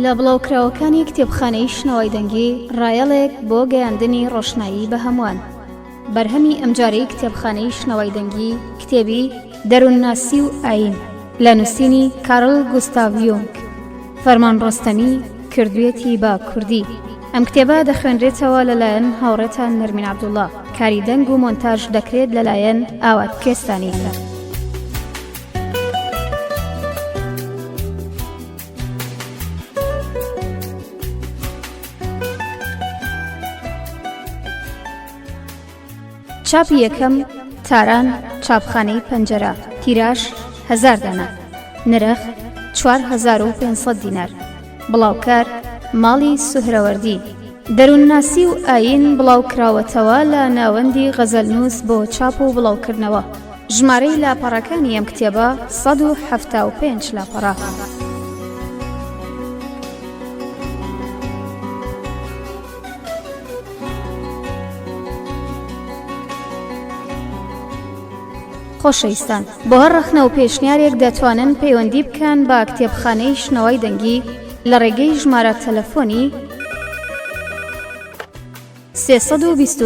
لە بڵاوکراوەکانی کتێبخانەی شنەوای دەنگی ڕایەڵێک بۆ گەیاندنی ڕۆشنایی بە هەمووان بەرهەمی ئەمجارەی کتێبخانەی شنەوای دەنگی کتێبی دەروونناسی و ئاین لە نووسینی کارل گوستاڤیۆنگ فەرمان ڕۆستەمی کردوێتی بە کوردی ئەم کتێبە دەخوێنرێتەوە لەلایەن هاوڕێتان نەرمین عبدوڵا کاری دەنگ و مۆنتاژ دەکرێت لەلایەن ئاوات کوێستانی. چاپی یەکەم، تاران، چاپخانەی پەنجەرە، تیراژ، هەزار دانە، نرخ، چوار هەزار و پێنج سەد دینار، بڵاوکەر، ماڵی سوهرەوەردی، دەروونناسی و ئایین بڵاوکراوەتەوە لە ناوەندی غەزەلنووس بۆ چاپ و بڵاوکردنەوە، ژمارەی لاپەڕەکانی ئەم کتێبە سەد و حەفتا و پێنج لاپەڕە. خۆشەویستان بۆ هەر ڕەخنە و پێشنیارێک دەتوانن پەیوەندی بکەن بە کتێبخانەی شنەوای دەنگی لە ڕێگەی ژمارە تەلەفۆنی 328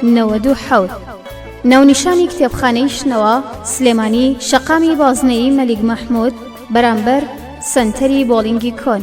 1970 ناونیشانی کتێبخانەی شنەوە سلێمانی شەقامی بازنەی مەلیک مەحموود بەرامبەر سنتەری بۆڵینگی کۆن.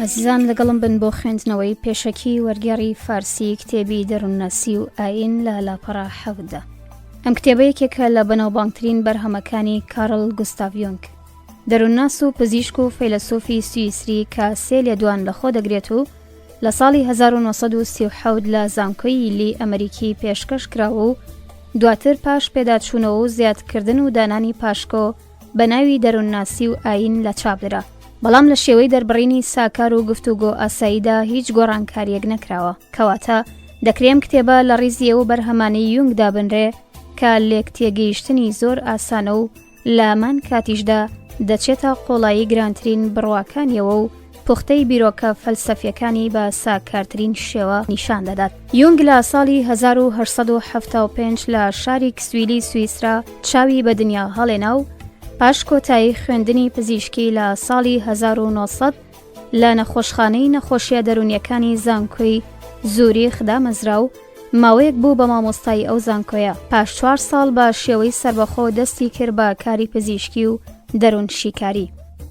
ئەزیزان لەگەڵم بن بۆ خوێندنەوەی پێشەکی وەرگێڕی فارسی کتێبی دەروونناسی و ئاین لە لاپەڕە حەوتدا ئەم کتێبەیەکێکە لە بەناوبانگترین بەرهەمەکانی کارل گوستاڤۆنگ دەروونناس و پزیشک و فەیلەسوفی سوئیسری کە سێ لێدوان لەخۆ دەگرێت و لە ساڵی 1970 لە زانکۆی یلی ئەمریکی پێشکەش کراوە و دواتر پاش پێداچوونەوە و زیادکردن و دانانی پاشکۆ بە ناوی دەروونناسی و ئایین لە چاپ درا، بەڵام لە شێوەی دەربڕینی ساکار و گفتوگۆ ئاساییدا هیچ گۆڕانکارییەک نەکراوە. کەواتە دەکرێ ئەم کتێبە لە ڕیزی ئەو بەرهەمانەی یونگ دابنرێ کە لێکتێگەیشتنی زۆر ئاسانە و لە هەمان کاتیشدا دەچێتە قۆڵایی گرانترین بڕواکانییەوە و پوختەی بیرۆکە فەلسەفییەکانی بە ساکارترین شێوە نیشان دەدات. یونگ لە ساڵی هەزار و هەشت سەد و حەفتا و پێنج لە شاری کسویلی سویسرا چاوی بە دنیا هەڵێنا و پاش کۆتایی خوێندنی پزیشکی لە ساڵی هەزار و نۆ سەد لە نەخۆشخانەی نەخۆشیە دەروونیەکانی زانکۆی زوریخ دامەزرا و ماوەیەک بوو بە مامۆستایی ئەو زانکۆیە. پاش چوار ساڵ بە شێوەی سەربەخۆ دەستی کرد بە کاری پزیشکی و دەروونشیکاری.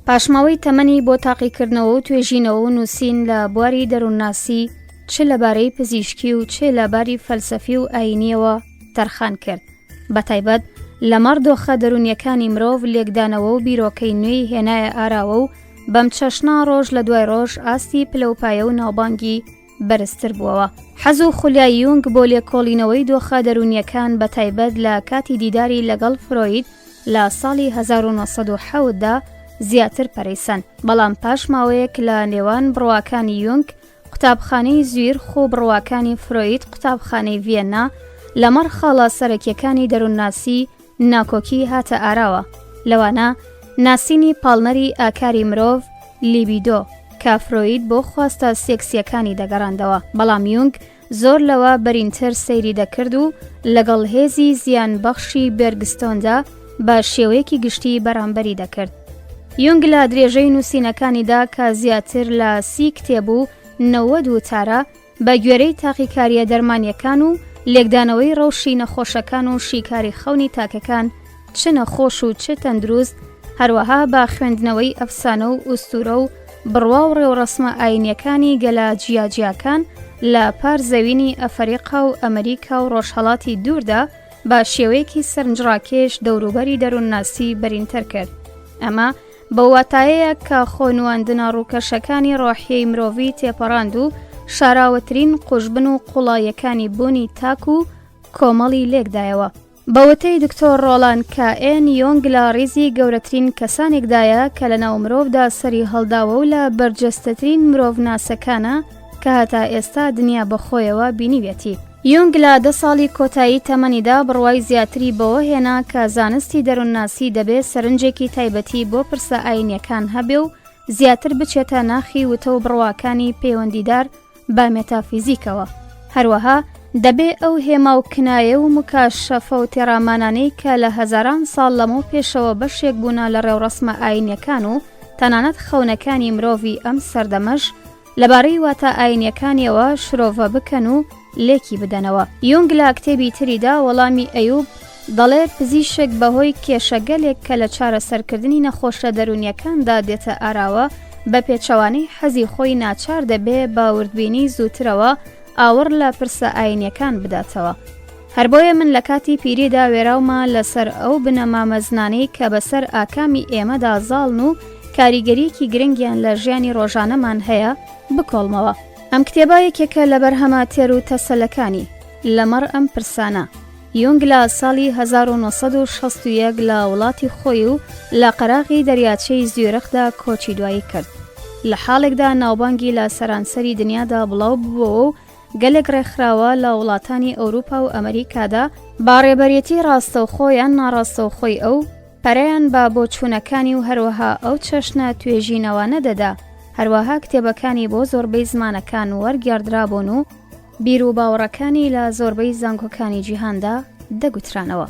پاشماوەی تەمەنی بۆ تاقیکردنەوە و توێژینەوە و نووسین لە بواری دەروونناسی چ لەبارەی پزیشکی و چێ لە باری فەلسەفی و ئایینیەوە تەرخان کرد بەتایبەت لەمەڕ دۆخە دەروونیەکانی مرۆڤ لێکدانەوە و بیرۆکەی نوێی هێنایە ئاراوە و بەم چەشنە ڕۆژ لە دوای ڕۆژ ئاستی پلەوپایە و ناوبانگی بەرزتر بووەوە. حەز و خولیای یونگ بۆ لێکۆڵینەوەی دۆخە دەروونیەکان بە تایبەت لە کاتی دیداری لەگەڵ فرۆید لە ساڵی 1970 دا زیاتر پەرەیسەن، بەڵام پاش ماوەیەک لە نێوان بڕواکانی یونگ قوتابخانەی زویرخ و بڕواکانی فرۆید قوتابخانەی ڤیەننا لەمەڕ خاڵە سەرەکیەکانی دەروونناسی ناکۆکی هاتە ئاراوە، لەوانە ناسینی پاڵنەری ئاکاری مرۆڤ، لیبیدۆ، کە فرۆید بۆ خواستە سێکسییەکانی دەگەڕاندەوە، بەڵام یونگ زۆر لەوە بەرینتر سەیری دەکرد و لەگەڵ هێزی زیانبەخشی بێرگستۆندا بە شێوەیەکی گشتی بەرامبەری دەکرد. یونگ لە درێژەی نووسینەکانیدا کە زیاتر لە سی کتێب و نەوەد وتارە، بە گوێرەی تاقیکارییە دەرمانییەکان و لێکدانەوەی ڕەوشی نەخۆشەکان و شیکاری خەونی تاکەکان چ نەخۆش و چ تەندروست، هەروەها بە خوێندنەوەی ئەفسانە و ئوستوورە و بڕوا و ڕێوڕەسمە ئایینییەکانی گەلە جیاجیاکان لە پار زەوینی ئەفەریقا و ئەمریکا و ڕۆژهەڵاتی دووردا بە شێوەیەکی سەرنجڕاکێش دەوروبەری دەروونناسی بەرینتر کرد. ئەمە بەو واتایەیە کە خۆ نواندنە ڕووکەشەکانی ڕۆحیەی مرۆڤی تێپەڕاند و شاراوەترین قوژبن و قوڵایەکانی بوونی تاک و کۆمەڵی لێکدایەوە بەوەتەی دکتۆر ڕۆڵان کە ئێن یۆنگ لە ڕیزی گەورەترین کەسانێکدایە کە لە ناو مرۆڤدا سەری هەڵداوە و لە بەرجەستەترین مرۆڤ ناسەکانە کە هەتا ئێستا دنیا بەخۆیەوە بینیویەتی. یونگ لە دە ساڵی کۆتایی تەمەنیدا بڕوای زیاتری بەوە هێنا کە زانستی دەروونناسی دەبێ سەرنجێکی تایبەتی بۆ پرسە ئایینییەکان هەبێ و زیاتر بچێتە ناخی وتە و بڕواکانی پەیوەندیدار بە مێتافیزیکەوە، هەروەها دەبێ ئەو هێما و کنایە و موکاشەفە و تێڕامانانەی کە لە هەزاران ساڵ لەمەو پێشەوە بەشێک بوونە لە ڕێوڕەسمە ئایینییەکان و تەنانەت خەونەکانی مرۆڤی ئەم سەردەمەش لەبارەی واتا ئاینییەکانیەوە شرۆڤە بکەن و لێکی بدەنەوە یونگ لە کتێبی تریدا وەڵامی ئەیوب دەڵێ پزیشک بەهۆی کێشەگەلێک کە لە چارەسەرکردنی نەخۆشە دەرونیەکاندا دێتە ئاراوە بە پێچەوانەی حەزی خۆی ناچار دەبێ باوردبینی زووترەوە ئاوڕ لە پرسە ئاینیەکان بداتەوە. هەر بۆیە من لە کاتی پیریدا وێراومە لە سەر ئەو بنەما مەزنانەی کە بە سەر ئاکامی ئێمەدا زاڵن و کاریگەریەکی گرنگیان لە ژیانی ڕۆژانەمان هەیە بکۆڵمەوە. ئەم کتێبە یەکێکە لە بەرهەمە تێر و تەسەلەکانی، لە مەڕ ئەم پرسانە. یونگ لە ساڵی هەزار و نۆ سەد و شەست و یەک لە وڵاتی خۆی و لە قەراغی دەریاچەی زویرخدا کۆچی دوایی کرد. لە حاڵێکدا ناوبانگی لە سەرانسەری دنیادا بڵاو ببۆوە و گەلێک ڕێکخراوە لە وڵاتانی ئەوروپا و ئەمریکادا با ڕێبەرێتی ڕاستەوخۆ یان ناڕاستەوخۆی ئەو پەرەیان بە بۆچوونەکانی و هەروەها ئەو چەشنە توێژینەوانە دەدا هەروەها کتێبەکانی بۆ زۆربەی زمانەکان وەرگێڕدرابوون و بیر و باوەڕەکانی لە زۆربەی زانکۆکانی جیهاندا دەگوترانەوە.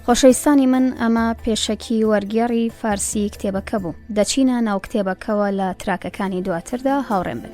خۆشەویستانی من ئەمە پێشەکی وەرگێڕی فارسی کتێبەکە بوو دەچینە ناو کتێبەکەوە لە تراکەکانی دواتردا هاوڕێن بن.